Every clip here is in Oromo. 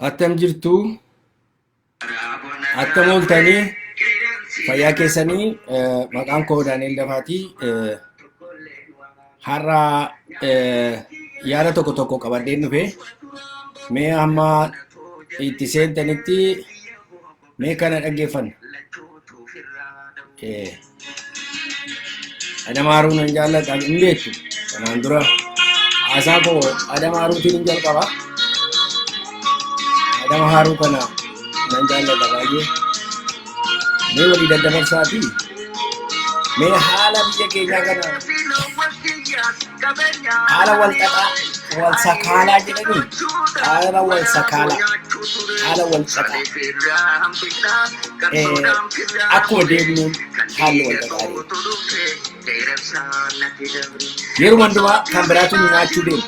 Attam jirtu? Attam ooltanii? Fayyaa keessanii maqaan koo Daani'el Dafaati. Har'a yaada tokko tokko qabadheen dhufe. Mee amma itti seentanitti Mee kana dhaggeeffanna. Eh, Adam Haaruu nan jaallata hin beektu. Kanaan dura haasaa koo Adam Haaruutiin hin jalqaba. Adam Haaruu kana nan jaallata baay'ee. Mee walii daddabarsaa fi mee haala biyya keenyaa kana Haala walxaxaa walsakaalaa jedhanii haala walsakaalaa haala walxaxaa akkuma deemnuun haalli walxaxaa deema. Yeruma hundumaa kan biraatu nyaachuu deema.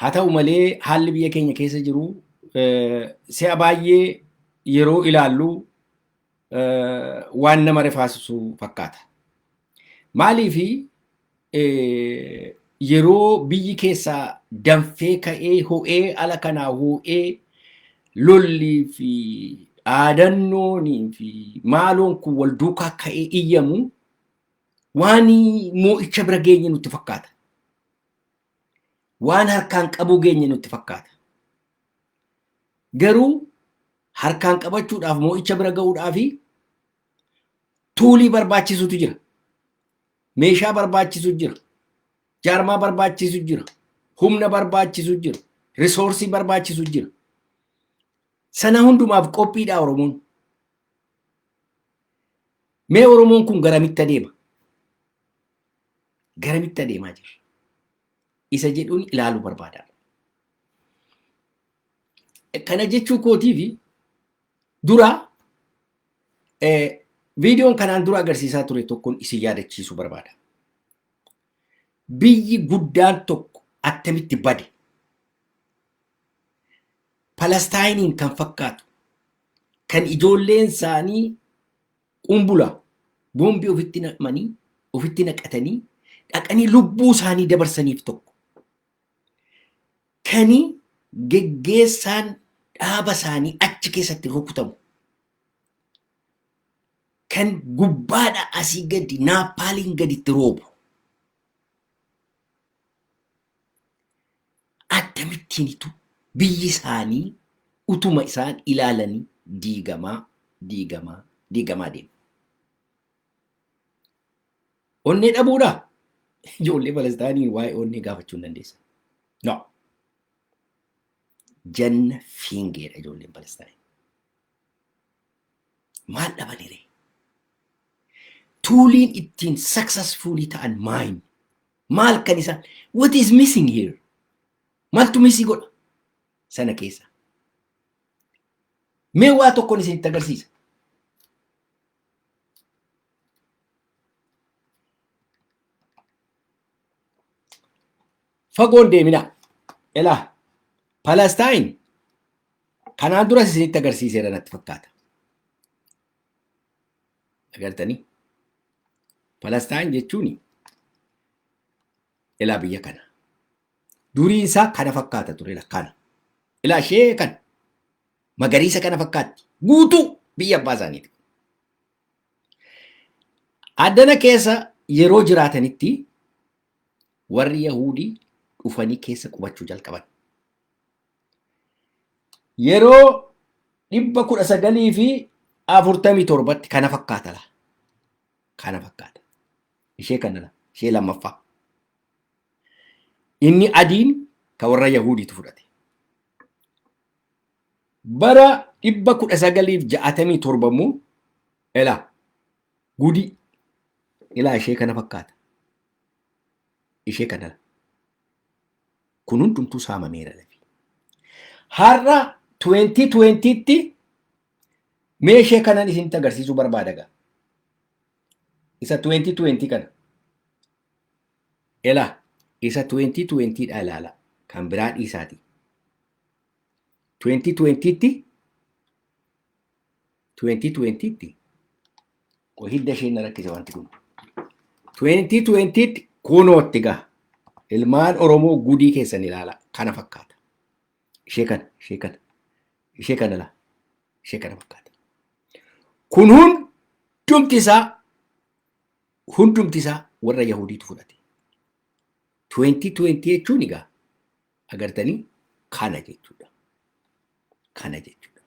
Haa ta'u malee haalli biyya keenya keessa jiru si'a baay'ee yeroo ilaallu waan nama rifaasisu fakkaata. Maaliif yeroo biyyi keessaa danfee ka'ee ho'ee ala kanaa ho'ee lollii fi dhaadannoonii fi maaloon kun wal duukaa ka'ee iyyamu waan moo'icha bira geenye nutti fakkaata. waan harkaan qabuu geenye nutti fakkaata. Garuu harkaan qabachuudhaaf moo'icha bira ga'uudhaaf tuulii barbaachisutu jira. Meeshaa barbaachisu jira. Jaarmaa barbaachisu jira. Humna barbaachisu jira. Risoorsii barbaachisu jira. Sana hundumaaf qophiidha Oromoon. Mee Oromoon kun garamitti adeema? Garamitti adeemaa jirra? Isa jedhuun ilaaluu barbaada. Kana jechuu kootiifi dura viidiyoon kanaan dura agarsiisaa ture tokkoon isin yaadachiisuu barbaada. Biyyi guddaan tokko attamitti bade Palestaayiniin kan fakkaatu kan ijoolleen isaanii Quumbula, boombii ofitti naqmanii, ofitti naqatanii, dhaqanii lubbuu isaanii dabarsaniif tokko. Kani geggeessaan dhaaba isaanii achi keessatti rukutamu. Kan gubbaadha asii gadi naappaaliin gaditti roobu. Akkamittiinitu biyyi isaanii utuma isaan ilaalanii diigamaa, diigamaa, diigamaa deema. Onnee dhabuudhaa? Ijoollee Palestaanii waa'ee onnee gaafachuu hin dandeessan. No. Janna fiingeedha ijoolleen Palestaanii. Maal dhabanire? Tuuliin ittiin successfully ta'an maayin? Maal kan isaan? What is missing here? Maaltu missing godha? Sana keessa. Mee waa tokkoon isinitti agarsiisa. Fagoon deeminaa. Elaa. Palastaayin kanaan duras isinitti agarsiiseera natti fakkaata. Agartanii? Palastaayin jechuun ilaa biyya kana. Duriin isaa kana fakkaata ture kana. Ilaa ishee kana. Magariisa kana fakkaatti. Guutuu biyya abbaa isaaniiti. Addana keessa yeroo jiraatanitti warri Yahuudii dhufanii keessa qubachuu jalqaban. Yeroo dhibba kudha sagalii fi afurtamii torbatti kana fakkaata laa. Kana fakkaata. Ishee kana laa. Ishee lammaffaa. Inni adiin ka warra Yahuudiitu fudhate. Bara 1967 immoo elaa gudii ilaa ishee kana fakkaata. Ishee kana kun hundumtuu saamameera lafi. Har'a 2020tti mee ishee kanan isinitti agarsiisuu barbaada gaa. Isa 2020 kana. Elaa isa 2020 dha ilaala kan biraa dhiisaati. 2020 tti 2020 tti qoy hidda isheen na rakkise wanti kun 2020 tti kunootti gaha ilmaan oromoo gudii keessan ilaala kana fakkaata ishee kana ishee kana ishee kana laa ishee kana fakkaata kun hundumti isaa hundumti isaa warra yahudiitu fudhate 2020 jechuun egaa Agartanii kana jechuudha. Kana jechuudha.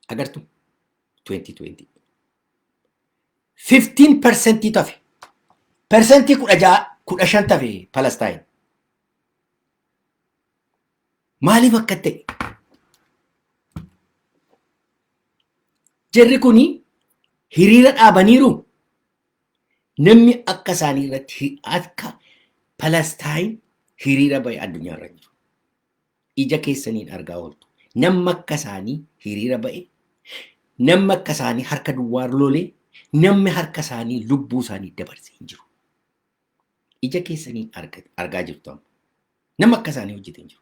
Agartu 2020. 15 persentii tafe. Persentii kudha ja'a kudha shan tafe Palestaayin. Maaliif akka ta'e? Jarri kuni hiriira dhaabaniiru Namni akka isaanii irratti akka Palastaayin hiriira bahe addunyaa irra jiru. Ija keessaniin argaa ooltu. Namni akka isaanii hiriira bahe, namni akka isaanii harka duwwaa lole, namni harka isaanii lubbuu isaanii dabarse hin jiru. Ija keessaniin argaa jirtu amma. Namni akka isaanii hojjete hin jiru.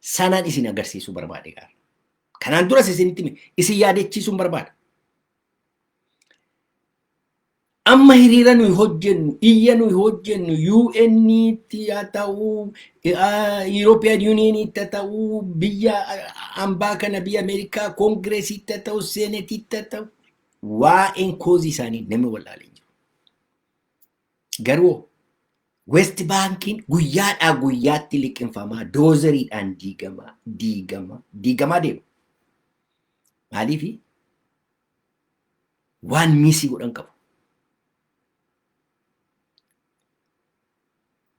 sanaan isin agarsiisuu barbaade gaara. Kanaan duras isinitti hime isin yaadachiisuun barbaada. Amma hiriira nuyi hojjennu, iyya nuyi hojjennu, UN'tti haa ta'uu, European Union'tti haa ta'uu, biyya ambaa kana biyya Ameerikaa Koongireesiitti haa ta'uu, Seenetiitti haa ta'uu, waa'een koozii isaanii namni wal'aalee hin jiru. Garuu West Baankiin guyyaadhaa guyyaatti liqinfamaa, doozeriidhaan diigamaa, diigamaa, diigamaa deema. Maaliifi? Waan miisii godhan qabu.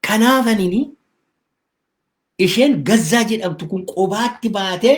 Kanaaf anini isheen gazzaa jedhamtu kun qobaatti baatee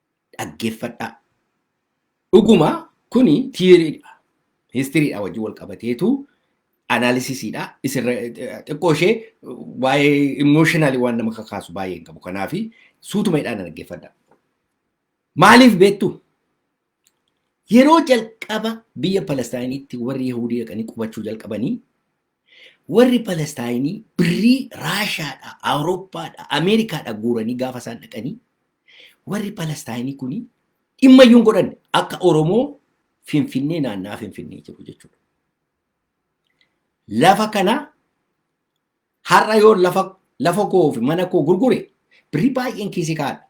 dhaggeeffadhaa. Dhuguma kuni tiiriidha. Histiriidha wajjin wal qabateetu anaalisisiidha. Isirra xiqqoo ishee waa'ee imooshinaali waan nama kakaasu baay'ee hin qabu. Kanaaf suutuma hidhaan dhaggeeffadhaa. Maaliif beektu? Yeroo jalqaba biyya Palestaayinitti warri Yahudii dhaqanii qubachuu jalqabanii Warri Palestaayinii birrii Raashaadhaa, Awurooppaadhaa, Ameerikaadhaa guuranii gaafa isaan dhaqanii warri Palestaayinii kuni dhimma iyyuu hin godhanne akka Oromoo Finfinnee naannaa Finfinnee jiru jechuudha. Lafa kana har'a yoo lafa lafa koo fi mana koo gurgure birrii baay'een kiisii kaa'adha.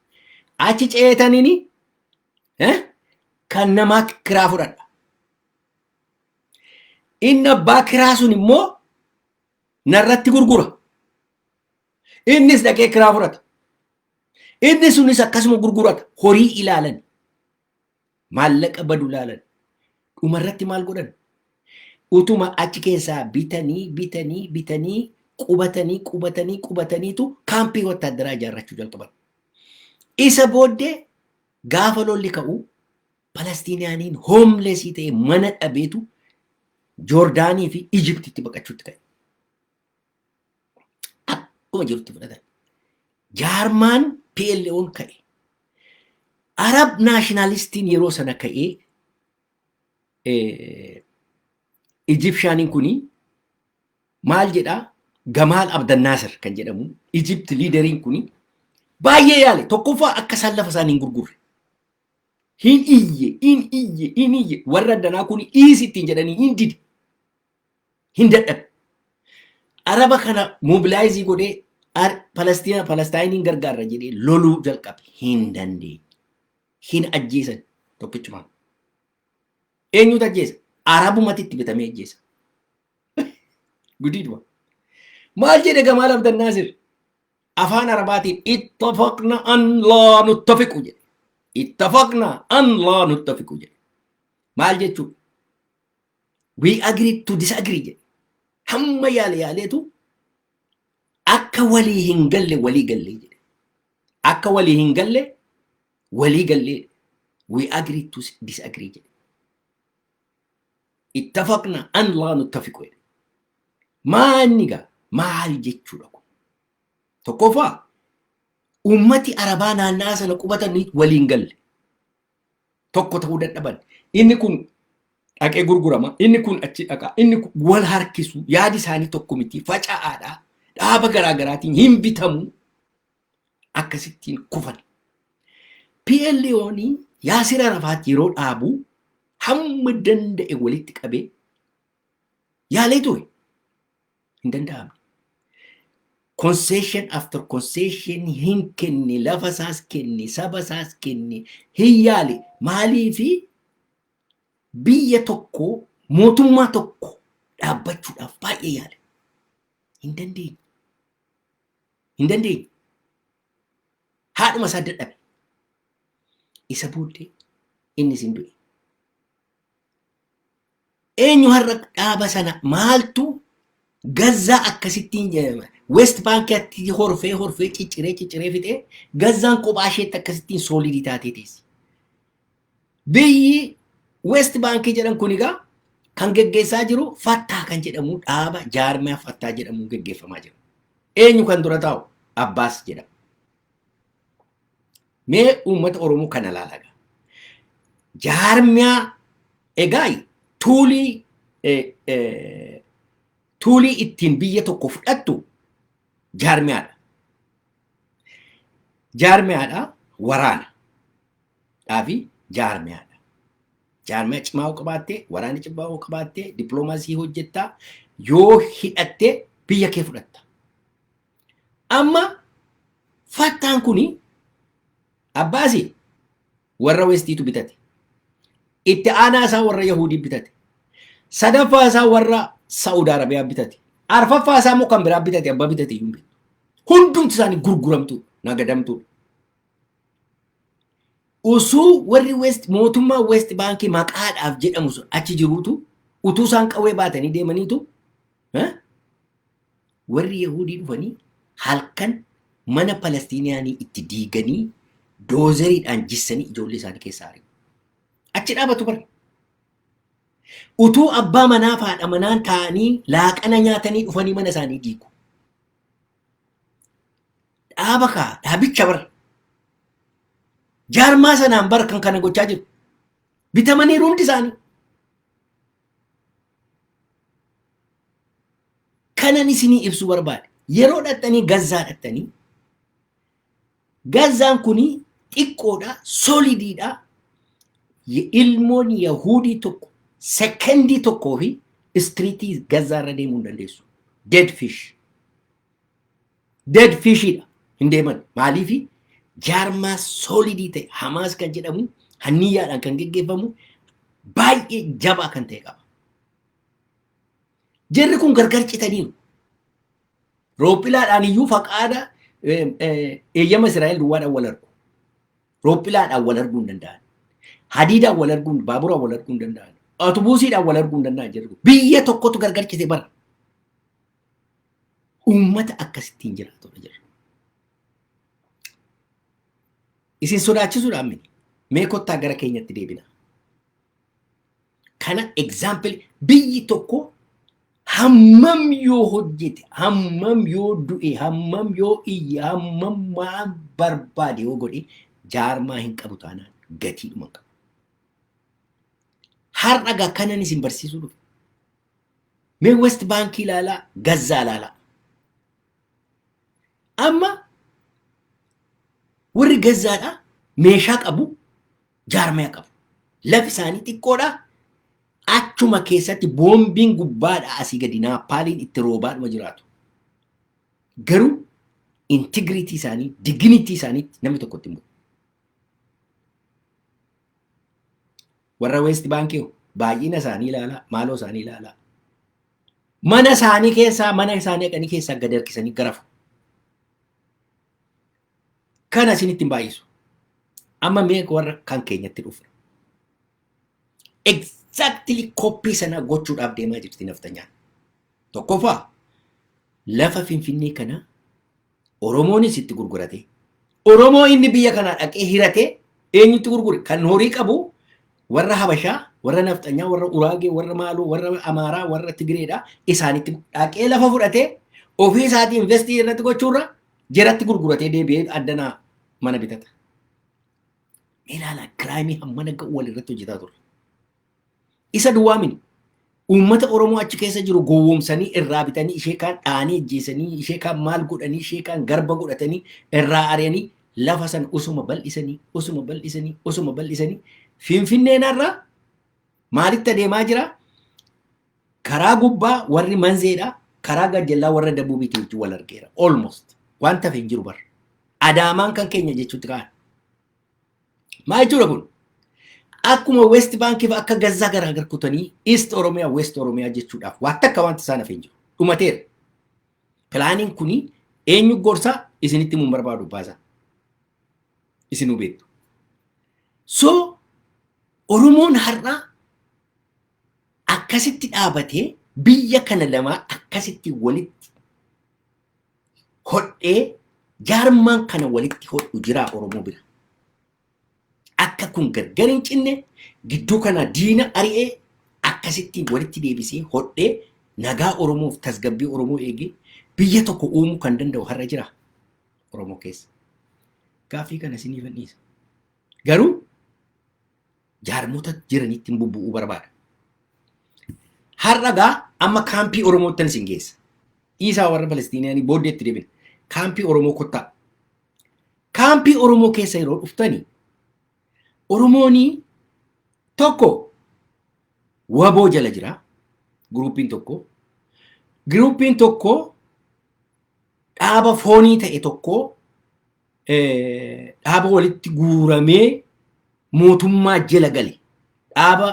Achi ceetaniini kan namaa kiraa fudhadha. Inni abbaa kiraa sun immoo narratti gurgura. Innis dhaqee kiraa fudhata. Inni sunis akkasuma gurgurata. Horii ilaalan. Maallaqa badu ilaalan. Dhumarratti maal godhan? Utuma achi keessaa bitanii bitanii bitanii qubatanii qubatanii qubataniitu kaampii wattaaddaraa ijaarrachuu jalqaban. Isa booddee gaafa lolli ka'u Palastiniyaaniin hoomleesii ta'e mana dhabeetu Joordaanii fi Ijiptitti baqachuutti ka'e. Akkuma jirutti fudhatan. Jaarmaan PLO'n ka'e. Arab naashinaalistiin yeroo sana ka'ee Ijipshaaniin kuni maal jedhaa Gamaal Abdannaasir kan jedhamu Ijipt liideriin kuni baay'ee yaale tokkoffaa akka isaan lafa isaanii hin gurgurre. hin iyye hin iyye hin iyye warra addanaa kun dhiisi ittiin jedhanii hin dide hin dadhabe araba kana mobilaayizii godhee ar- Palestina Palestaayiniin gargaarra jedhee loluu jalqabe hin dandeenye hin ajjeesan tokkichumaan eenyutu ajjeesa arabumatti itti bitamee ajjeesa gudiidhuma maal jedhe gamaal abdannaasir afaan arabaatiin ittafaqna an laa nuttafiqu jedhe ittafaqna an laa nuttafiqu jedhe maal jechuu we agree to disagree jedhe hamma yaale yaaleetu akka walii hin galle walii galle jedhe akka walii hin galle walii galle we agree to disagree jedhe ittafaqna an laa nuttafiqu jedhe maa inni gaa maal jechuudha kun tokkoffaa ummati arabaa naannaa sana qubatanii waliin galle tokko ta'uu dadhaban inni kun dhaqee gurgurama inni kun achi dhaqa inni kun wal harkisu yaadi isaanii tokko miti faca'aadha dhaaba garaagaraatiin hin bitamu akkasittiin kufan. PLO'n Yaasir Arafaat yeroo dhaabu hamma danda'e walitti qabee yaalee ture. Hin danda'amne. Concession after concession hin kenne, lafa isaas kenne, saba isaas kenne, hin yaale. Maaliifi biyya tokko, mootummaa tokko dhaabbachuudhaaf baay'ee yaale. Hin dandeenye. hin dandeenye. Haadhuma isaa dadhabe. Isa booddee innis hin du'e. Eenyu har'a dhaaba sana maaltu gazzaa akkasittiin jedhama. West Baankiitti horfee horfee cicciree cicciree fixee gazzaan kophaa isheetti akkasittiin soolidii taatee teessi. Biyyi West Baankii jedhan kun egaa kan geggeessaa jiru Fattaa kan jedhamu dhaaba jaarmiyaa Fattaa jedhamuun geggeeffamaa jira. Eenyu kan dura taa'u? Abbaas jedhama. Mee uummata Oromoo kana ilaalaa egaa. Jaarmiyaa egaa tuulii tuulii ittiin biyya tokko fudhattu jaarmiyaadha. Jaarmiyaadha waraana. dhaa fi jaarmiyaa dha. Jaarmiyaa cimaa yoo qabaatte, waraana cimaa yoo qabaatte, dippiloomaasii hojjetta, yoo hidhatte biyya kee fudhatta. Amma fattaan kuni abbaasi warra westiitu bitate. Itti aanaa isaa warra Yahuudii bitate. Sadaffaa isaa warra Saa'ud Arabiyaa bitate. Arfaffaa isaa immoo kan biraa bitate abbaa bitate iyyuu hin beektu. Hundumti isaanii gurguramtuu, nagadamtuu. Osoo warri West mootummaa West Baankii maqaadhaaf jedhamu sun achi jiruutu utuu isaan qawwee baatanii deemaniitu eh, warri Yahuudii dhufanii halkan mana Palestiiniyaanii itti diiganii doozeriidhaan jissanii ijoollee isaanii keessaa ari'u. Achi dhaabatu bara. Utuu abbaa manaa fi haadha manaan taa'anii laaqana nyaatanii dhufanii mana isaanii diigu. dhaaba kaa dhaabicha bar jaarmaa sanaan bar kan kana gochaa jiru bitamanii hundi isaanii kanan isinii ibsuu barbaade yeroo dhattanii gazzaa dhattanii gazzaan kun xiqqoodha solidiidha ilmoon yahuudii tokko sekendii tokkoo fi istiriitii gazzaa irra deemuu hin dandeessu dead fish dead fish dha hin deeman maaliifi jaarmaa soolidii ta'e hamaas kan jedhamu hanniyyaadhaan kan geggeeffamu baay'ee jabaa kan ta'e qaba. Jarri kun gargar citaniiru. Roophilaadhaan iyyuu faqaada eeyyama Israa'el duwwaadhaan wal argu. Roophilaadhaan wal arguu hin danda'an. Hadiidaan wal arguu, baaburaan wal arguu hin danda'an. Atubuusiidhaan wal arguu hin danda'an jedhu. Biyya tokkotu gargar cite bara. Uummata akkasittiin jiraatudha jira. Isin sodaachisuudhaan miti. Mee kottaa gara keenyatti deebina. Kana example biyyi tokko hammam yoo hojjete, hammam yoo du'e, hammam yoo iyye, hammam maal barbaade yoo godhe jaarmaa hin qabu taanaan gatiidhuma hin qabu. Har'a gaa kanan isin barsiisuu dhufe. Mee West Baankii ilaalaa, Gazzaa ilaalaa. Amma warri Gazzaadhaa meeshaa qabu, jaarmaya qabu. Lafi isaanii xiqqoodhaa achuma keessatti boombiin gubbaadhaa asii gadi naappaaliin itti roobaadhuma jiraatu. Garuu integriitii isaanii, diginitii isaaniitti namni tokko itti hin bu'u. Warra Weest Baankii baay'ina isaanii ilaalaa, maaloo isaanii ilaalaa. Mana isaanii keessaa, mana isaanii dhaqanii keessaa gad harkisanii garafu. Kana isinitti hin baay'isu. Amma mee warra kan keenyatti dhufna. Exactly koppii sana gochuudhaaf deemaa jirti naftanyaan. Tokkoffaa lafa Finfinnee kana Oromoonis itti gurgurate. Oromoo inni biyya kanaa dhaqee hirate eenyutti gurgure? Kan horii qabu warra Habashaa, warra Nafxanyaa, warra Uraagee, warra Maaloo, warra Amaaraa, warra Tigireedha. Isaanitti dhaqee lafa fudhatee ofii isaatii investii irratti gochuurra jeratti gurguratee deebi'ee addanaa mana bitata. Ilaala kiraayimii hammana ga'u walirratti hojjetaa ture. Isa duwwaa miti. Uummata Oromoo achi keessa jiru gowwoomsanii irraa bitanii ishee kaan dhahanii ajjeesanii ishee kaan maal godhanii ishee kaan garba godhatanii irraa ari'anii lafa sana osuma bal'isanii osuma bal'isanii osuma bal'isanii Finfinneen har'a maalitti adeemaa jira? Karaa gubbaa warri manzeedha karaa gajjallaa warra dabuubiitu wajjin wal argeera almost waan tafe hin jiru barra. Adaamaan kan keenya jechuutti ka'an. Maa jechuudha kun? Akkuma West Bank fa akka Gazzaa garaa gar kutanii East Oromiyaa West Oromiyaa jechuudhaaf waan takka wanti isaan hafee hin jiru. Dhumateera. Pilaaniin kuni eenyu gorsaa isinitti himuun barbaadu baasaa. Isinuu beektu. So Oromoon har'aa akkasitti dhaabatee biyya kana lamaa akkasitti walitti hodhee jaarmaan kana walitti hodhu jiraa Oromoo bira. Akka kun gargar hin cinne gidduu kana diina ari'ee akkasitti walitti deebisee hodhee nagaa Oromoof tasgabbii Oromoo eegee biyya tokko uumuu kan danda'u har'a jira Oromoo keessa. Gaaffii kana isiniif dhiisa. Garuu jaarmota jiranitti hin bubbu'uu barbaada. Har'a gaa amma kaampii Oromoottan isin geessa. Dhiisaa warra Palestiinaanii booddee itti deebina. Kaampii Oromoo kottaa. Kaampii Oromoo keessa yeroo dhuftanii Oromoonii tokko waboo jala jira guruupiin tokko guruupiin tokko dhaaba foonii ta'e tokko dhaaba walitti guuramee mootummaa jala gale dhaaba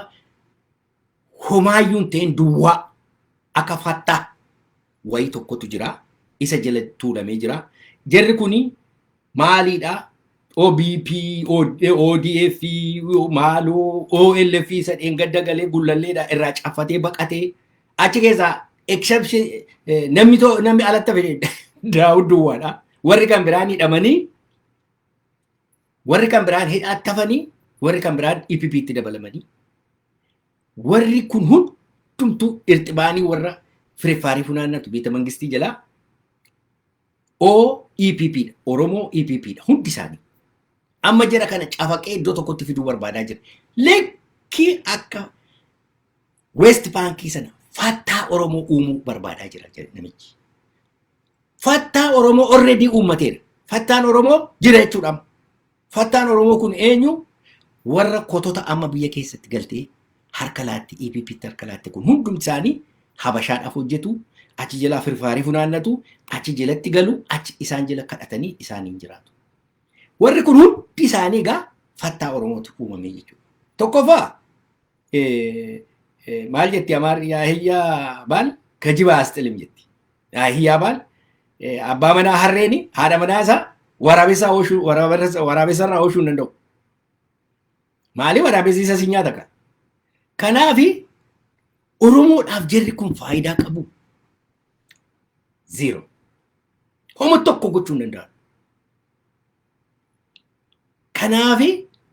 homaayyuun ta'een duwwaa akka fattaa wayii tokkotu jira isa jala tuulamee jira jarri kuni maaliidha OBP, ODF, maaloo OLF isa dheengadda galee gullalleedha irraa caffatee baqatee Achi keessaa exception eh, namni too namni alatti fide Daawud duwwaadha. Warri kan biraan hidhamanii warri kan biraan hidhaatti hafanii warri kan biraan EPP itti dabalamanii warri kun hundumtuu irxibaanii warra fireffaarii funaannatu beeta mangistii jalaa OEPP dha. Oromoo EPP dha. Hundi isaanii. Amma jara kana cafaqee iddoo tokkotti fiduu barbaadaa jira. Lekkii akka Weest baankii sana fattaa Oromoo uumuu barbaadaa jira jedhe namichi. Fattaa Oromoo already uummateera. Fattaan Oromoo jira jechuudha. amma. Fattaan Oromoo kun eenyu? Warra kotota amma biyya keessatti galtee harka laatti EPPtti harka laatte kun hundumti isaanii habashaadhaaf hojjetu achi jalaa firfaarii funaannatu achi jalatti galu achi isaan jala kadhatanii isaaniin jiraatu. Warri kun hundi isaanii egaa fattaa Oromootu uumamee jechuudha. Tokkoffaa maal jetti amaarri yaahiyyaa baal kajibaa asxilim jetti. Yaahiyyaa baal abbaa manaa harreeni haadha manaa isaa waraabessaa oshuu waraabessarraa oshuu hin danda'u. Maali waraabessi isa si nyaata kan. Kanaafi Oromoodhaaf jarri kun faayidaa qabu. Zero. Homa tokko gochuu hin danda'an. Kanaafi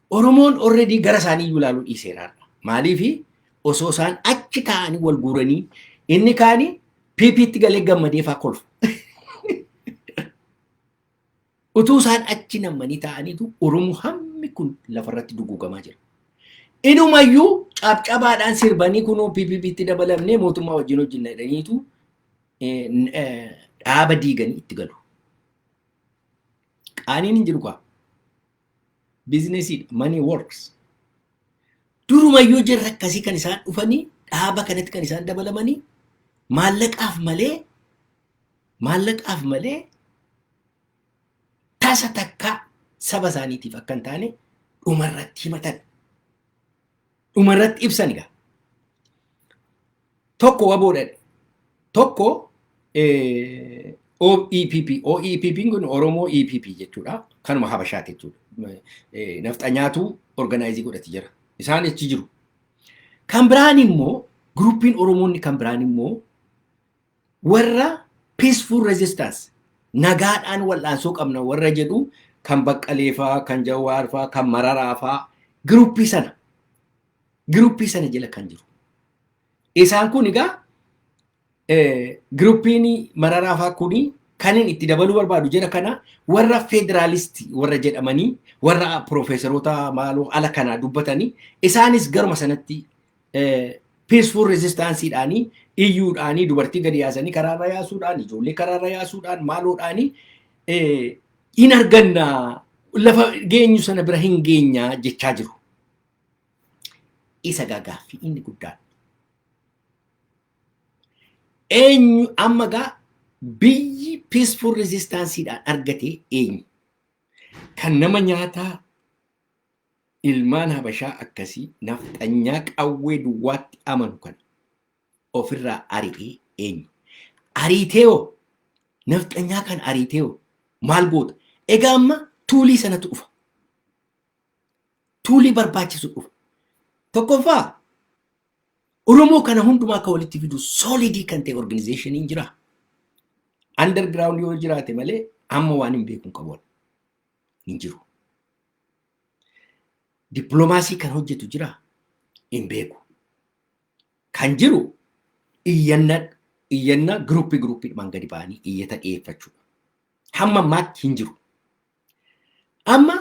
Oromoon already gara isaanii iyyuu ilaaluu dhiiseera har'a. Maaliifi osoo isaan achi taa'anii wal guuranii inni kaani PPtti galee gammadee faa kolfa. Utuu isaan achi nammanii taa'aniitu Oromoo hammi kun lafarratti duguugamaa jira. Inumayyuu cabcabaadhaan sirbanii kunoo PPPtti dabalamnee mootummaa wajjin hojjenna jedhaniitu eh, n- eh, dhaaba diiganii itti galu. Qaaniin hin jiru kaa. Biizinesiidha. Money works. Durumayyuu jirra akkasii kan isaan dhufanii dhaaba kanatti kan isaan dabalamanii maallaqaaf malee maallaqaaf malee tasa takkaa saba isaaniitiif akka hin taane dhumarratti himatan. Dhumarratti ibsan egaa. tokko waboo dhadhe tokko OEPP OEPP kun Oromoo EPP jechuudha kanuma Habashaati jechuudha nafxanyaatu organaayizii godhati jira isaan achi jiru kan biraan immoo guruppiin Oromoonni kan biraan immoo warra peaceful resistance nagaadhaan wal'aansoo qabna warra jedhu kan baqqaleefaa kan jawaarfaa kan mararaafaa giruppii sana giruppii sana jala kan jiru. Isaan kun egaa giruppiin mararaa fa'aa kun kan inni itti dabaluu barbaadu jira kana warra federaalisti warra jedhamanii warra piroofeesaroota maaloo ala kanaa dubbatanii isaanis garuma sanatti peaceful resistanceedhaanii iyyuudhaanii dubartii gadi yaasanii karaarra yaasuudhaan ijoollee karaarra yaasuudhaan maaloodhaanii hin arganna lafa geenyu sana bira hin geenyaa jechaa jiru. Isa gaa gaaffii inni guddaan. Eenyu amma gaa biyyi peaceful resistansiidhaan argate eenyu? Kan nama nyaataa ilmaan habashaa akkasii nafxanyaa qawwee duwwaatti amanu kana ofirraa ari'ee eenyu? Ariitee hoo? Nafxanyaa kan ariitee hoo? Maal goota? Egaa amma tuulii sanatu dhufa. tuulii barbaachisu dhufu. Tokkoffaa Oromoo kana hundumaa akka walitti fidu soolidii kan ta'e organizeeshiniin jira. Underground yoo jiraate malee amma waan hin beekun qabu hin jiru. Dippiloomaasii kan hojjetu jira hin beeku. Kan jiru iyyanna iyyanna giruuppii giruuppiidhumaan gadi ba'anii iyyata dhiyeeffachuudha. Hamma ammaatti hin jiru. Amma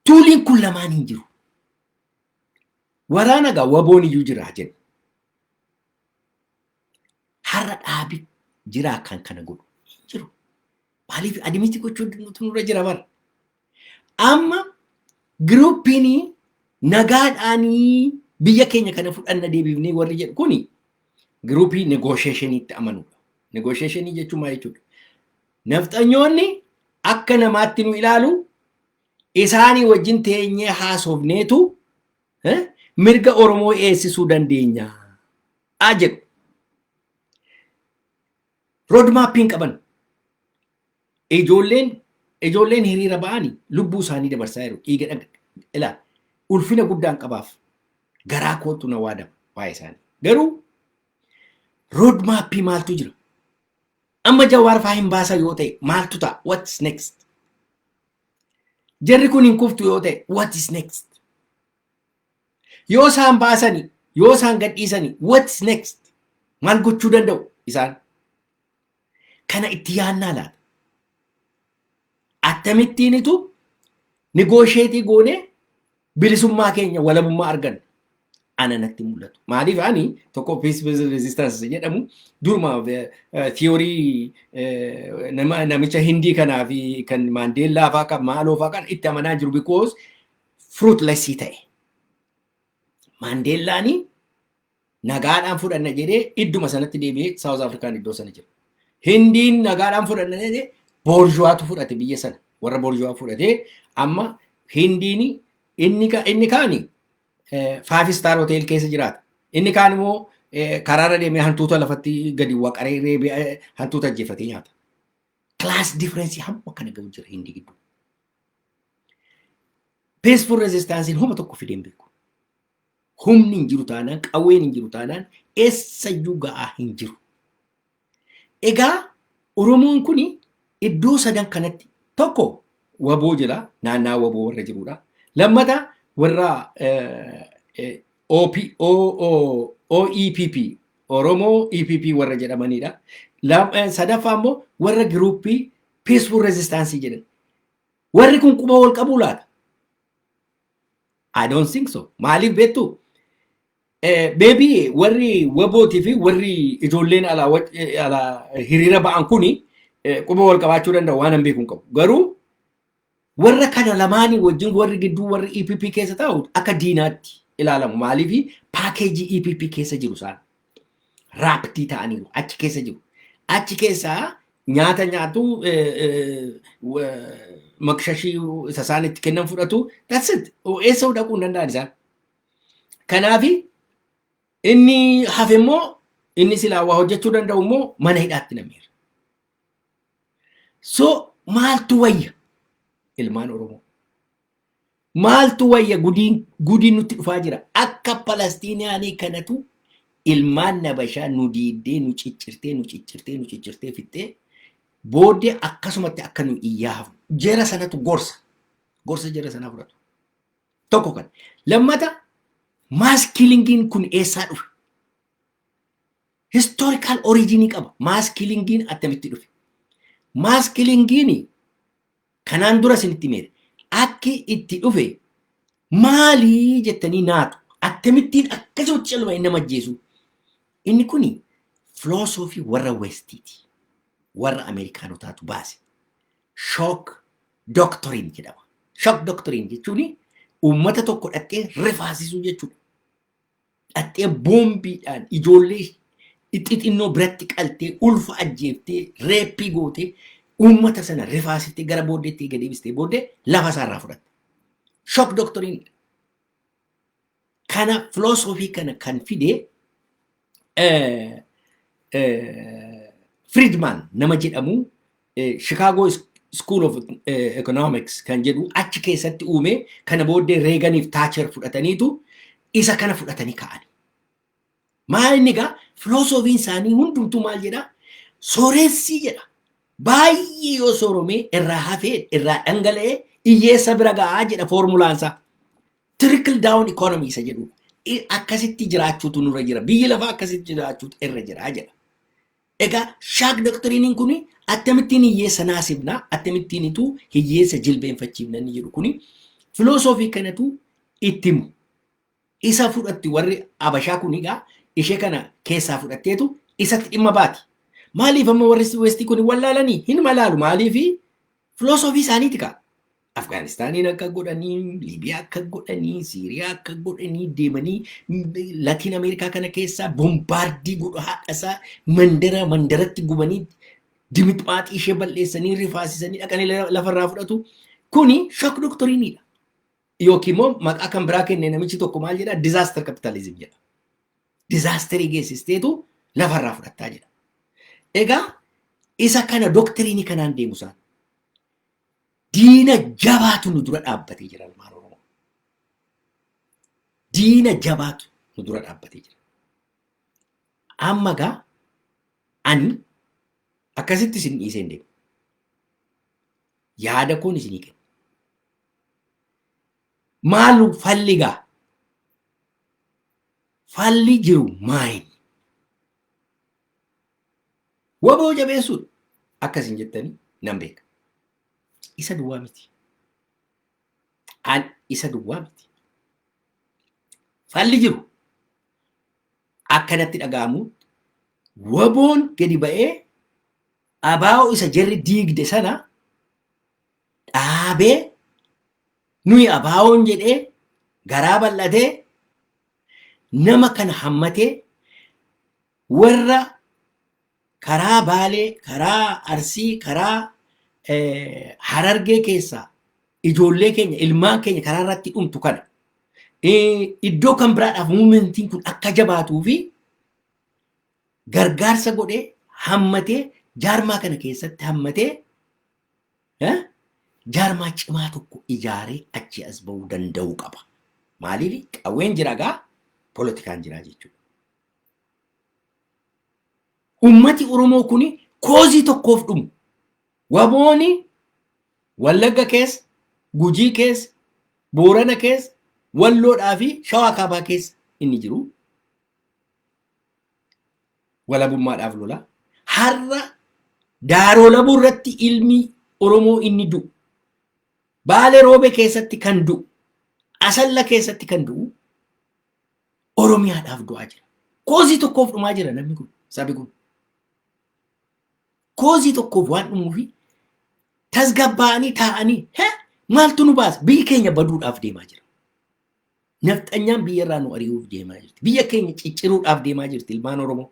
tuuliin kun lamaan hin jiru. Waraana gaa waboon iyyuu jira jenna. Har'a dhaabi jiraa kan kana godhu hin jiru. Maaliif adimiti gochuun nutu nurra jira bara. Amma giruuppiin nagaadhaanii biyya keenya kana fudhanna deebifnee warri jedhu kuni giruuppii negoosheeshiniitti amanudha. Negoosheeshinii jechuun maal jechuudha? Nafxanyoonni akka namaatti nu ilaalu isaanii wajjin teenyee haasofneetu mirga Oromoo eegsisuu dandeenya jedhu. Roodmaappii hin qaban. Ijoolleen ijoolleen hiriira ba'ani lubbuu isaanii dabarsaa jiru. Dhiiga dhaga ila ulfina guddaan qabaaf garaa kootu na waadama waa'ee isaanii. Garuu roodmaappii maaltu jira? Amma Jawaar faa hin baasan yoo ta'e maaltu ta'a? What is next? Jarri kun hin kuftu yoo ta'e what is next? Yoo isaan baasani, yoo isaan gadhiisani what is next? Maal gochuu danda'u isaan? Kana itti yaannaa laata? Akkamittiinitu nigoosheetii goonee bilisummaa keenya walabummaa arganne ana natti mul'atu. Maaliif ani tokko peace based resistance jedhamu duruma tiyoorii namicha hindii kanaa fi kan maandeellaa faa kan maaloo faa kan itti amanaa jiru because fruitless ta'e. Maandeellaani nagaadhaan fudhanna jedhee idduma sanatti deebi'ee Saawuz Afrikaan iddoo sana jira. Hindiin nagaadhaan fudhanna jedhee boorjuwaatu fudhate biyya sana warra boorjuwaa fudhatee amma hindiin inni ka- inni kaani faafi istaar hotel keessa jiraata. Inni kaan immoo eh, karaarra deemee hantuuta lafatti gadi waqaree reebee eh, hantuuta ajjeefatee nyaata. Class difference hamma kana gahu jira hindi gidduu. Peaceful resistance homa tokko fidee hin beeku. Humni hin jiru taanaan, qawween hin jiru taanaan eessayyuu ga'aa hin jiru. Egaa Oromoon kun iddoo sadan kanatti tokko waboo jira naannaa waboo warra jirudha. Lammata warra OEPP Oromoo EPP warra jedhamanidha. Sadaffaa immoo warra giruuppii peaceful resistance jedhan. Warri kun quba wal qabuu laata? I don't think so. Maaliif beektu? Eh, Maybe warri wabootii fi warri ijoolleen alaa waj- eh, alaa hiriira ba'an kuni eh, quba wal qabaachuu danda'u waan hin beeku hin qabu. Garuu warra kana lamaanii wajjin warri gidduu warri EPP keessa taa'u akka diinaatti ilaalamu. Maaliif paakeejii EPP keessa jiru isaan. raaptii ta'aniiru achi keessa jiru. Achi keessaa nyaata nyaatu makshashii isa isaan itti kennan fudhatu that's it eessa dhaquu hin danda'an isaan. Kanaafi inni hafe immoo inni silaa waa hojjechuu danda'u immoo mana hidhaatti nameera. So maaltu wayya ilmaan Oromoo? Maaltu wayya gudiin gudiin nutti dhufaa jira. Akka Palastiiniyaanii kanatu ilmaan nabashaa nu diiddee nu ciccirtee nu ciccirtee nu ciccirtee fixxee booddee akkasumatti akka nu iyyaa hafnu. Jara sanatu gorsa. Gorsa jara sanaa fudhatu. Tokko kan. Lammata maaskilingiin kun eessaa dhufe? Historical origin qaba. Maaskilingiin attamitti dhufe? Maaskilingiin Kanaan dura isinitti himeera. Akki itti dhufe maalii jettanii naatu akkamittiin akkasumatti calma inni nama ajjeesu. Inni kuni filoosofii warra Westiiti. Warra Ameerikaanotaatu baase. Shock doctrine jedhama. Shock doctrine jechuun uummata tokko dhaqxee rifaasisuu jechuudha. dhaxxee boombiidhaan ijoollee xixinnoo biratti qaltee ulfa ajjeeftee reeppii gootee uummata sana rifaasistee gara booddeetti eega deebistee booddee lafa isaa irraa fudhatte. Shock doctrine kana filoosofii kana kan fide Friedman nama jedhamu Chicago School of Economics kan jedhu achi keessatti uume kana booddee Reeganiif Taacher fudhataniitu isa kana fudhatanii ka'an. Maal inni egaa filoosofiin isaanii hundumtuu maal jedha? Sooressii jedha. Baay'ee yoo sooromee irraa hafee irraa dhangala'ee hiyyeessa bira ga'aa jedha foormulaansaa. Trickle down economy isa jedhu akkasitti jiraachuutu nurra jira. Biyyi lafaa akkasitti jiraachuutu irra jira jedha. Egaa shaak doktiriiniin kun attamittiin hiyyeessa naasifna, attamittiinitu hiyyeessa jilbeenfachiifna inni jedhu kun filoosofii kanatu itti himu. Isa fudhatti warri Abashaa kun egaa ishee kana keessaa fudhatteetu isatti dhimma baati. Maaliif amma warri Westii kun wallaalanii hin malaalu maaliifi Filoosofii isaaniiti kaa. Afgaanistaaniin akka godhanii, Liibiyaa akka godhanii, Siiriyaa akka godhanii deemanii Latiin Ameerikaa kana keessaa bombaardii godhu haadhasaa mandara mandaratti gubanii dimixmaaxii ishee bal'eessanii rifaasisanii dhaqanii lafarraa fudhatu. Kuni shock doktoriinidha. Yookiin immoo maqaa kan biraa kenne namichi tokko maal jedhaa? Disaster capitalism jedha. dizaasterii geessisteetu lafarraa fudhattaa jedha. Egaa isa kana doktiriinii kanaan deemu isaan diina jabaatu nu dura dhaabbatee jira ilmaan Oromoo. Diina jabaatu nu dura dhaabbatee jira. Amma gaa ani akkasitti isin dhiisee hin deemu. Yaada koon isinii kenna. Maalu falli gaa? Falli jiru maayini? Waboo jabeessuudha. Akka isin jettanii nan beeka. Isa duwwaa miti. An isa duwwaa miti. Falli jiru akkanatti dhaga'amu waboon gadi ba'ee abaa'oo isa jarri diigde sana dhaabee nuyi abaawoon jedhee garaa bal'atee nama kana hammatee warra karaa baalee karaa arsii karaa harargee keessaa ijoollee keenya ilmaan keenya karaa irratti dhumtu kana iddoo kan biraadhaaf muumentiin kun akka jabaatuu fi gargaarsa godhee hammatee jaarmaa kana keessatti hammatee Eh? Jaarmaa cimaa tokko ijaaree achi as ba'uu danda'uu qaba. Maaliif qawween jira gaa polotikaan jira jechuudha. Ummati Oromoo kun koozii tokkoof dhumu. Wabooni Wallagga keessa, Gujii keessa, Boorana keessa, Walloodhaa fi Shawaa Kaabaa keessa inni jiru. walabummaadhaaf lola. Har'a daaroo labuu irratti ilmi Oromoo inni du'u. Baale roobe keessatti kan du'u. Asalla keessatti kan du'u. Oromiyaadhaaf du'aa jira. Koozii tokkoof dhumaa jira namni kun sabi kun. Koozii tokkoof waan dhumuufi tasgabbaa'anii taa'anii maaltu nu baasa biyyi keenya baduudhaaf deemaa jira. Nafxanyaan biyya irraa nu ari'uuf deemaa jirti. Biyya keenya cicciruudhaaf deemaa jirti ilmaan Oromoo.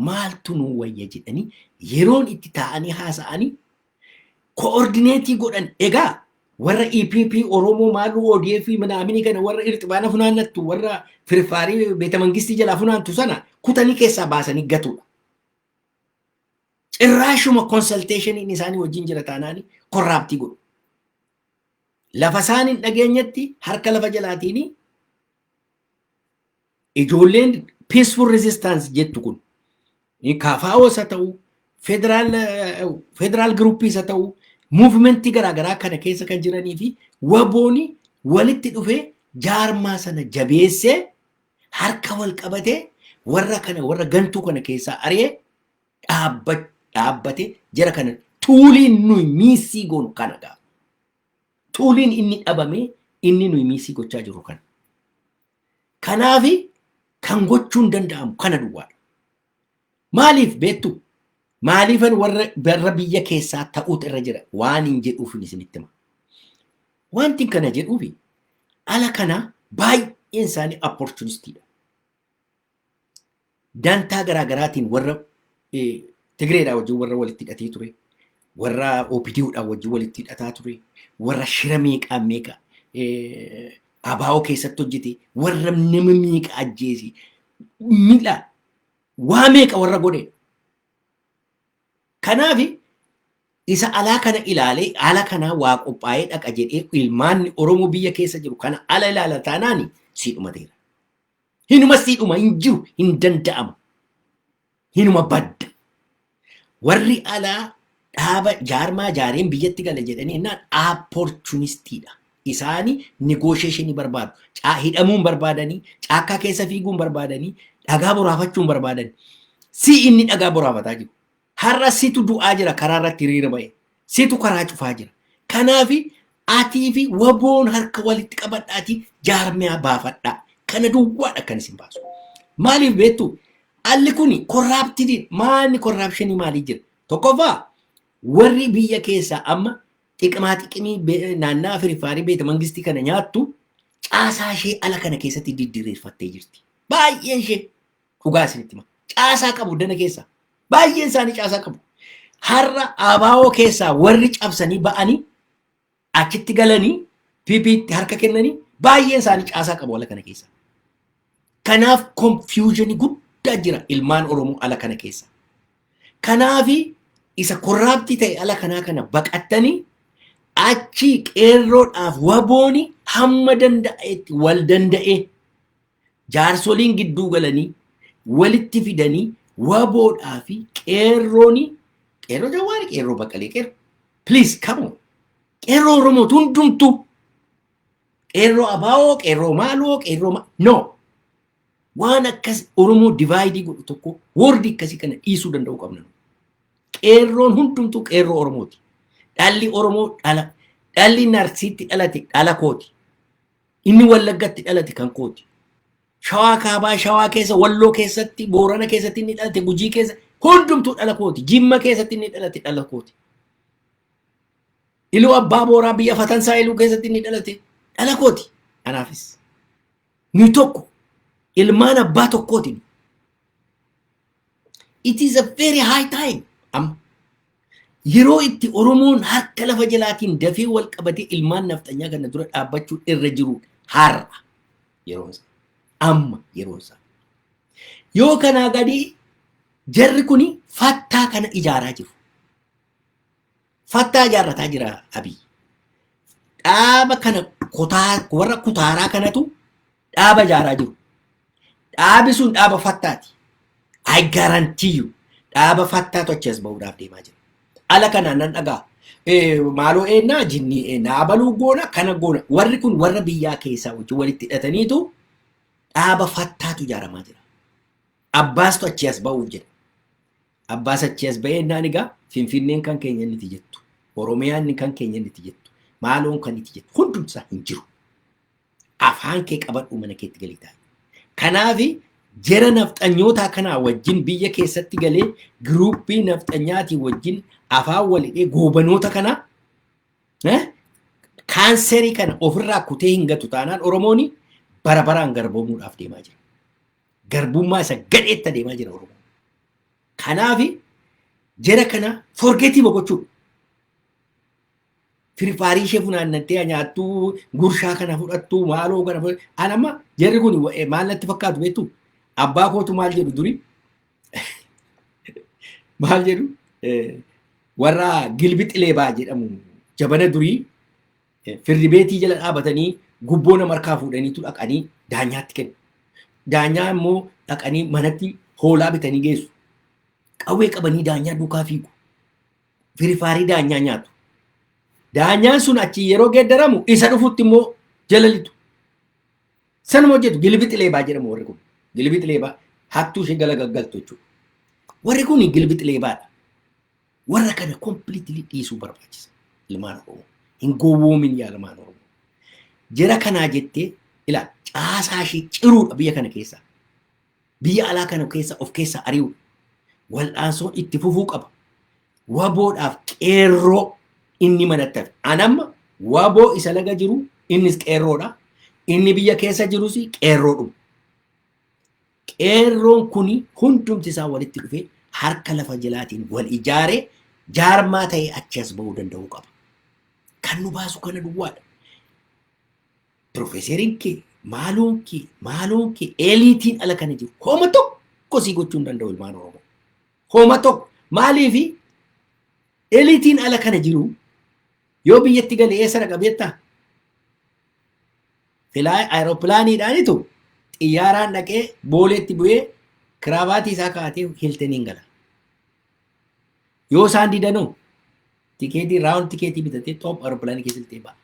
Maaltu nu wayya jedhanii yeroon itti taa'anii haasa'anii koordineetii godhan egaa warra EPP Oromoo maaluu ODF minaaminii kana warra irxibaana funaannattu warra firfaarii beeta mangistii jalaa funaantu sana kutanii keessaa baasanii gatuudha. Cirraashuma konsalteeshiniin isaanii wajjin jira taanaanii korraabtii godhu. lafa isaan hin dhageenyetti harka lafa jalaatiin ijoolleen peaceful resistance jettu kun kaafaa'oo isa ta'u federaal federaal giruuppii isa ta'u muuvimentii garaagaraa kana keessa kan jiranii fi wabooni walitti dhufee jaarmaa sana jabeessee harka wal qabatee warra kana warra gantuu kana keessaa ari'ee dhaabba dhaabbate jara kana tuuliin nuyi miissii goonu kana gaa tuuliin inni dhabame inni nuyi miissii gochaa jirru kana kanaafi kan gochuun danda'amu kana duwwaadha maaliif beektu maaliifan warra warra biyya keessaa ta'uutu irra jira waan hin jedhuufin isinitti hima wanti kana jedhuufi ala kana baay'een isaanii opportunistiidha dantaa garaa garaatiin warra Tigireedhaa wajjin warra walitti hidhatee ture, warra OPDOdhaa wajjin walitti hidhataa ture, warra shira meeqaa meeqa abaa'oo keessatti hojjete, warra nama meeqa ajjeese, miidha waa meeqa warra godhe. Kanaaf isa alaa kana ilaalee ala kanaa waa qophaa'ee dhaqa jedhee ilmaanni Oromoo biyya keessa jiru kana ala ilaala taanaani sii dhumateera. Hinuma siidhuma hin jiru hin danda'amu. Hinuma badda. Warri alaa dhaaba jaarmaa jaareen biyyatti gala jedhanii innaan aapporchunistiidha. Isaani negoosheeshinii barbaadu. Caa hidhamuun barbaadanii, caakkaa keessa fiiguun barbaadanii, dhagaa boraafachuun barbaadani. Si inni dhagaa boraafataa jiru. Har'a situ du'aa jira karaa irratti hiriira ba'e. Situ karaa cufaa jira. Kanaaf atii fi waboon harka walitti qabadhaatii jaarmiyaa baafadhaa. Kana duwwaadha kan isin baasu. Maaliif beektu? Alli kun korraaptidii maalni korraapshinii maalii jira? Tokkoffaa warri biyya keessaa amma xiqimaa xiqimii be- naannaa Afiriffaarii beeta mangistii kana nyaattu caasaa ishee ala kana keessatti diddireeffattee jirti. Baay'een ishee Dhugaa isinitti hima. Caasaa qabu dana keessaa. Baay'een isaanii caasaa qabu. Har'a abaa'oo keessaa warri cabsanii ba'anii achitti galanii PPtti harka kennanii baay'een isaanii caasaa qabu ala kana keessaa. Kanaaf konfiyuuzhinii guddaa jira ilmaan Oromoo ala kana keessa. Kanaafi isa korraaptii ta'e ala kanaa kana baqattanii achi qeerroodhaaf wabooni hamma danda'etti wal danda'ee jaarsoliin gidduu galanii walitti fidanii waboodhaa fi qeerrooni qeerroo jawaari qeerroo baqqalee qeerroo please come on qeerroo oromoo hundumtuu qeerroo abaawoo qeerroo maaloo qeerroo ma no waan akkas oromoo divaayidii godhu tokko woordi akkasii kana dhiisuu danda'uu qabna qeerroon hundumtuu qeerroo oromooti dhalli oromoo dhala dhalli narsiitti dhalate dhala kooti Inni Wallaggatti dhalate kan kooti. Shawaa kaabaa, shawaa keessa, walloo keessatti, boorana keessatti inni dhalate, gujii keessa hundumtuu dhala kooti. Jimma keessatti inni dhalate dhala kooti. Iluu abbaa booraa biyya fatansaa iluu keessatti inni dhalate dhala kooti. Kanaafis nuyi tokko ilmaan abbaa tokkootiin It is a very high time. Amma yeroo itti Oromoon harka lafa jalaatiin dafee wal qabatee ilmaan nafxanyaa kana dura dhaabbachuu irra jiru har'a yeroon isaa. Amma yeroon isaa. Yoo kanaa gadii jarri kuni fattaa kana ijaaraa jiru. Fattaa ijaarrataa jira Abiy. Dhaaba kana kutaa warra kutaaraa kanatu dhaaba ijaaraa jiru. Dhaabi sun dhaaba fattaati. I guarantee you. Dhaaba fattaa tochi as bahuudhaaf deemaa jira. Ala kanaan nan dhagaa. Maaloo eennaa jinnii eennaa abaluu goona kana goona. Warri kun warra biyyaa keessaa wajjin walitti hidhataniitu dhaaba fattaatu ijaaramaa jira. Abbaastu achi as bahuuf jedha. Abbaas achi as bahee eennaan egaa Finfinneen kan keenya inni jettu. Oromiyaan kan keenya inni jettu. Maaloon kan itti jettu. Hundumsaa hin jiru. afaan kee qabadhu mana keetti galii taa'e. Kanaafi jara nafxanyootaa kanaa wajjin biyya keessatti galee giruuppii nafxanyaatii wajjin afaan walidhee goobanoota kana eh, kaanserii kana ofirraa kutee hin gatu taanaan Oromoon bara baraan garboomuudhaaf deemaa jira. Garbummaa isa gadheetti adeemaa jira Oromoon. Kanaafi jara kana forgetii boqochuu. Firfaarii ishee funaannattee haa nyaattuu gurshaa kana fudhattuu maaloo kana fudhattuu. An amma jarri kun wa- eh, maal natti fakkaatu beektu abbaa kootu maal jedhu duri maal jedhu eh, warra gilbi xileebaa jedhamu jabana durii eh, firri beetii jala dhaabatanii gubboo nama harkaa fuudhaniitu dhaqanii daanyaatti kennu. Daanyaa immoo dhaqanii manatti hoolaa bitanii geessu. Qawwee qabanii daanyaa duukaa fiigu. firifaarii daanyaa nyaatu. Daanyaan sun achi yeroo geeddaramu isa dhufutti immoo jalalitu. Sanuma hojjetu gilbixi leebaa jedhamu warri kun. Gilbixi leebaa hattuu ishee gala gaggaltu jechuudha. Warri kun gilbixi leebaadha. Warra kana kompiliitilii dhiisuu barbaachisa. Ilmaan Oromoo. Hin gowwoomin yaa ilmaan Oromoo. Jara kanaa jettee ilaa caasaa ishee ciruudha biyya kana keessaa. biyya alaa kana keessa of keessaa ari'u wal'aansoon itti fufuu qaba. Waboodhaaf qeerroo inni manatti hafe. An amma waboo isa laga jiru innis qeerroodha. Inni biyya keessa jirus qeerroodhuma. Qeerroon kun hundumti isaa walitti dhufee harka lafa jalaatiin wal ijaaree jaarmaa ta'ee achi as ba'uu danda'uu qaba. Kan nu baasu kana duwwaadha. Pirofeeseriin kee, maaloon kee, maaloon kee eeliitiin ala kana jiru. Homa tokko sii gochuu hin danda'u ilmaan Oromoo. Homa tokko maaliifi eeliitiin ala kana jiru yoo biyyatti gale eessa dhaqa beektaa? Filaa aeropilaaniidhaanitu xiyyaaraan dhaqee booleetti bu'ee kiraabaatii isaa kaa'atee hiltaniin gala. Yoo isaan didanoo tikeetii raawun tikeetii bitatee xoop aeropilaanii keessa iltee ba'a.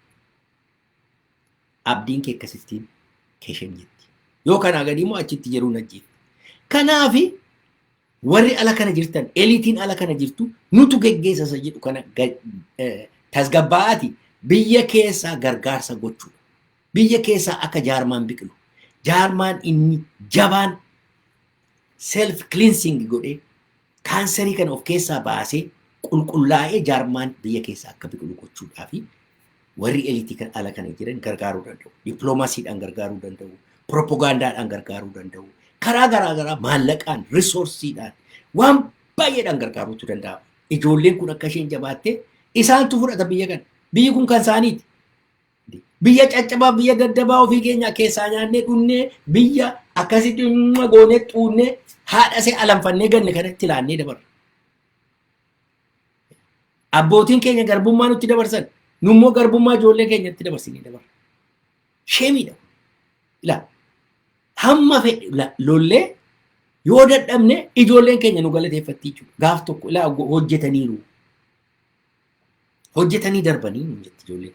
Abdiin kee akkasittiin Keshem jetti. Yoo kanaa gadii immoo achitti jiruun ajjeefti. Kanaaf warri ala kana jirtan eliitiin ala kana jirtu nutu geggeessa isa jedhu kana ga- eh, tasgabbaa'aati biyya keessaa gargaarsa gochuudha. Biyya keessaa akka jaarmaan biqilu. Jaarmaan inni jabaan self cleansing godhee Kaansarii kana of keessaa baasee qulqullaa'ee jaarmaan biyya keessa akka biqilu gochuudhaa fi warri eliitii kan ala kana jiran gargaaruu danda'u. Dippiloomaasiidhaan gargaaruu danda'u. Piropogaandaadhaan gargaaruu danda'u. Karaa garaa garaa maallaqaan, risoorsiidhaan waan baay'eedhaan gargaaruutu danda'ama. Ijoolleen kun akka isheen jabaattee isaantu fudhata biyya kana. Biyyi kun kan isaaniiti. Biyya caccabaa biyya daddabaa ofii keenya keessaa nyaannee dhunnee biyya akkasitti dhimma goonee xuunnee haadha see alanfannee ganne kanatti laannee dabarra. Abbootiin keenya garbummaa nutti dabarsan nu immoo garbummaa ijoollee keenyatti dabarsinee dabarra. Sheemiidha. Ilaa hamma fedhe la- lollee yoo dadhabne ijoolleen keenya nu galateeffatti jechuudha. Gaaf tokko ilaa go- hojjetaniiru. hojjetanii darbanii nuun jetti ijoolleen.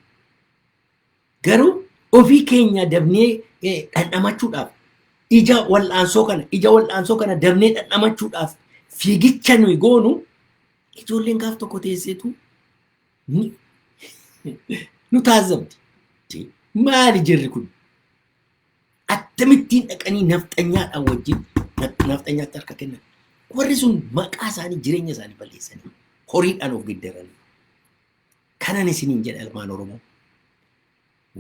Garuu ofii keenya dabnee eh, dhandhamachuudhaaf ija wal'aansoo kana ija wal'aansoo kana dabnee dhandhamachuudhaaf fiigicha nuyi goonu ijoolleen gaaf tokko teesseetu ni- nu taasifamti. Maali jirri kun? Attamittiin dhaqanii nafxanyaadhaan wajjin nafxanyaatti harka kennan. Warri sun maqaa isaanii jireenya isaanii balleessanii horiidhaan of geddaranii. Kanan isiniin jedha ilmaan Oromoo.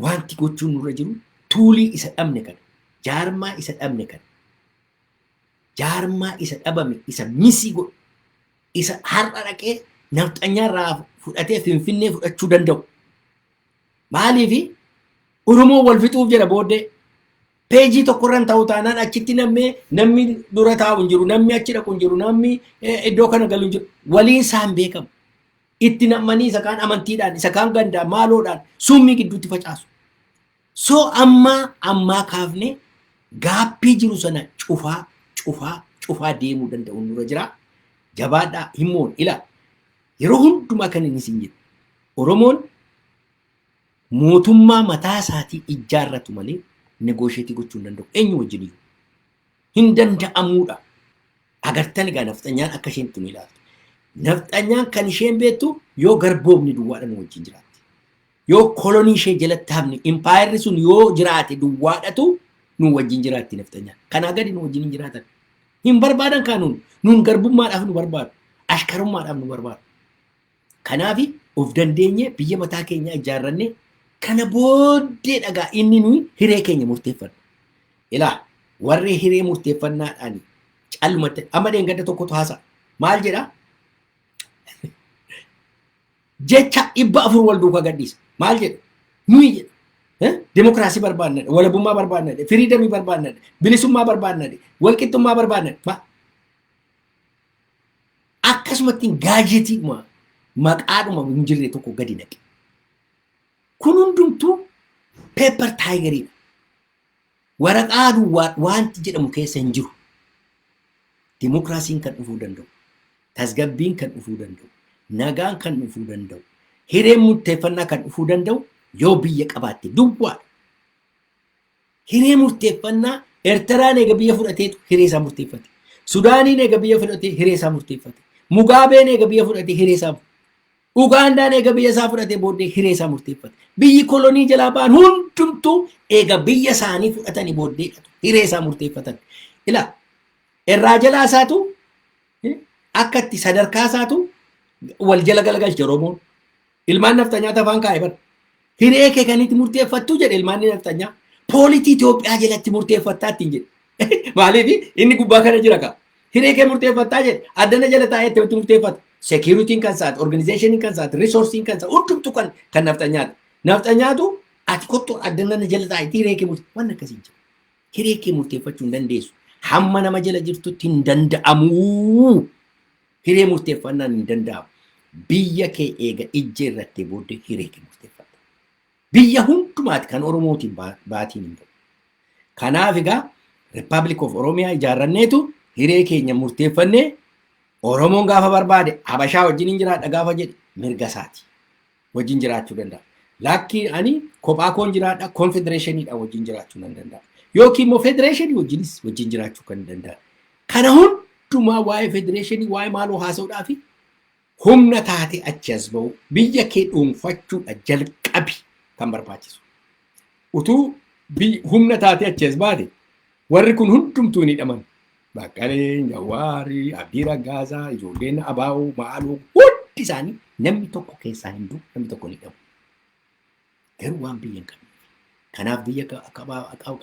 Wanti gochuun nurra jiru tuulii isa dhabne kana. Jaarmaa isa dhabne kana. Jaarmaa isa dhabame isa misii godhu. Isa har'a dhaqee nafxanyaa irraa fudhatee finfinnee fudhachuu danda'u. Maaliif Oromoo wal fixuuf jedha booddee peejii tokkorran ta'u taanaan achitti namni namni dura taa'u hin jiru namni achi dhaqu hin jiru namni eh, iddoo kana galu hin jiru waliin isaan beekamu. Itti nam'anii isa kaan amantiidhaan isa kaan gandaan maaloodhaan summii gidduutti facaasu. So ammaa ammaa kaafne gaappii jiru sana cufaa cufaa cufaa deemuu danda'uun nurra jira. Jabaadhaa himoon ila yeroo hundumaa kan inni isin jedhu Oromoon mootummaa mataa isaatii ijjaarratu malee negoosheetii gochuu hin danda'u. Eenyu wajjin iyyuu. Hin danda'amuudha. Agartan egaa nafxanyaan akka isheen itti nu ilaaltu. Nafxanyaan kan isheen beektu yoo garboomni duwwaadha nu wajjin jiraatte. Yoo kolonii ishee jalatti hafni impaayerri sun yoo jiraate duwwaadhatu nu wajjin jiraatti nafxanyaan. Kanaa gadi nu wajjin hin jiraatan. Hin barbaadan kaanuun nuun garbummaadhaaf nu barbaadu. Ashkarummaadhaaf nu barbaadu. Kanaaf of dandeenyee biyya mataa keenyaa ijaarrannee kana booddee dhagaa inni nuyi hiree keenya murteeffannu. Ilaa warri hiree murteeffannaadhaan calmatte amma dheengadda tokkotu haasa maal jedha? Jecha dhibba afur wal duukaa gadhiisa maal jedha? Nuyi jedha. Demokiraasii barbaadna, walabummaa barbaadna, firiidamii barbaadna, bilisummaa barbaadna, walqixxummaa barbaadna. akkasumattiin gaajetiidhuma maqaadhuma hin jirre tokko gadi naqe. Kun hundumtuu peepar taayigariidha. Waraqaa duwwaa wanti jedhamu keessa hin jiru. Dimookiraasiin kan dhufuu danda'u, tasgabbiin kan dhufuu danda'u, nagaan kan dhufuu danda'u, hireen murteeffannaa kan dhufuu danda'u yoo biyya qabaatte duwwaadha. Hiree murteeffannaa Ertiraan eega biyya fudhateetu hiree isaa murteeffate. Sudaaniin eega biyya fudhatee hiree isaa murteeffate. Mugaabeen eega biyya fudhatee hiree isaa Ugaandaan eega biyya isaa fudhatee booddee hiree isaa murteeffate. Biyyi kolonii jalaa ba'an hundumtuu eega biyya isaanii fudhatanii booddee hiree isaa murteeffatan. Ila irraa jalaa isaatu akka itti sadarkaa isaatu wal jala galagalche Oromoon. Ilmaan nafxanyaatti afaan kaa'e bar. Hiree kee kan itti murteeffattu jedhe ilmaan nafxanyaa. Poolitii Itoophiyaa jalatti murteeffattaa ittiin jedhe. Maaliif inni gubbaa kana jira kaa. Hiree kee murteeffattaa jedhe addana jala taa'ee itti murteeffata. Seekiyuritiin kan isaati, organizeeshiniin kan isaati, riisoorsiin kan isaati, hundumtu kan kan nafxanyaati. Nafxanyaatu ati kottu addana jala taa'ee hiree kee murteeffata. Waan akkasii hin jiru. Hiree kee murteeffachuu hin dandeessu. Hamma nama jala jirtutti hin danda'amu. Hiree murteeffannaan hin danda'amu. Biyya kee eega ijjee irratti booddee hiree kee murteeffatta. Biyya hundumaati kan Oromootiin baa- baatiin hin bu'u. Kanaaf egaa Republic of Oromiyaa ijaarranneetu hiree keenya murteeffannee Oromoon gaafa barbaade Habashaa wajjin hin jiraadha gaafa jedhe mirga isaati. wajjin jiraachuu danda'a. Laakkii ani kophaa koon jiraadha konfedereeshiniidha wajjin jiraachuu nan danda'a. Yookiin immoo federeeshinii wajjinis wajjin jiraachuu kan danda'a. Kana hundumaa waa'ee federeeshinii waa'ee maaloo haasa'uudhaa fi humna taate achi as ba'u biyya kee dhuunfachuudha jalqabi kan barbaachisu. Utuu humna taate achi as baate Warri kun hundumtuu hin hidhaman. Baqqaleen, Jawaari, Abdii Raggaasaa, ijoolleen Abaa'oo, Ma'aaloo hundi isaanii namni tokko keessaa hin du'u, namni tokko hin hidhamu. Garuu waan biyya hin qabne. Kanaaf biyya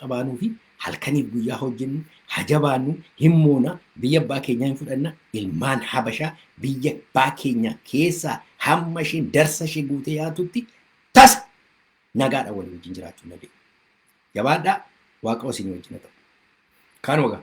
qabaanuu fi halkaniif guyyaa hojjennu, hajabaannu, hin moona, biyya abbaa keenyaa hin fudhanna, ilmaan habashaa biyya abbaa keenyaa keessaa hamma isheen darsa ishee guutee yaatutti tasa nagaadha walii wajjin jiraachuu hin dandeenye. Jabaadhaa waaqoo isin wajjin haa ta'u. Kaan wagaa.